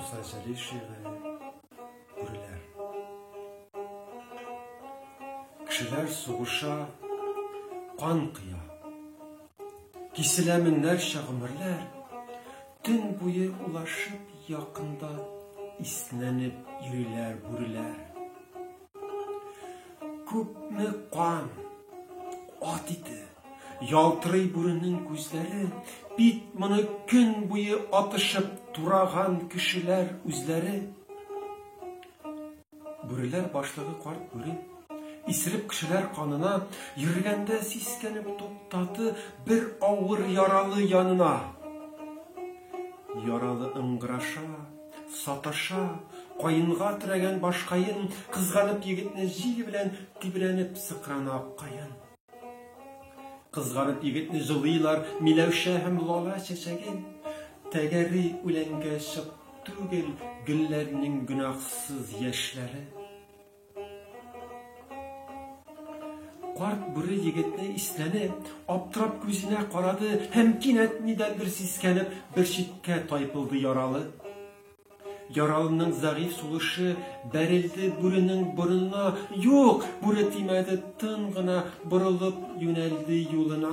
Муса Җәлишевы күреләр. Кешеләр сугыша, кан кыя. Киселә меңнәрчә гомерләр, төн буе улашып якында иснәнеп йөриләр бүреләр. Күпме кан, ат ите, ялтырый бүренең күзләре, бит моны көн буе атышып тураган кешеләр үзләре. Бүреләр башлыгы карт бүре, исереп кешеләр канына, йөргәндә сискәнеп туктаты бер авыр яралы янына. Яралы ыңгыраша, Саташа, каенга терәгән башкаен, Кызганып егетне җил белән тибрәнеп сыкрана аккаен. Кызганып егетне җылыйлар Миләүшә һәм лала чәчәге. Тәгәри үләнгә чык түгел Гөлләрнең гөнаһсыз яшьләре. Карт бүре егетне иснәнеп, аптырап күзенә карады һәм кинәт нидән бер сискәнеп, бер читкә тайпылды яралы. Яралының зәгыйфь сулышы бәрелде бүренең борынына. Юк, бүре тимәде, тын гына борылып юнәлде юлына.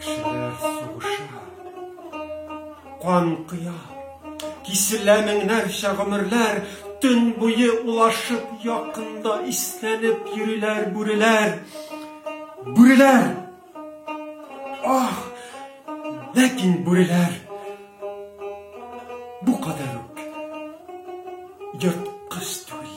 Кешеләр сугыша, кан кыя, киселә меңнәрчә гомерләр, төн буе улашып якында иснәнеп йөриләр бүреләр. Бүреләр! Ах! Ләкин бүреләр бу кадәр үк йорткыз түгел.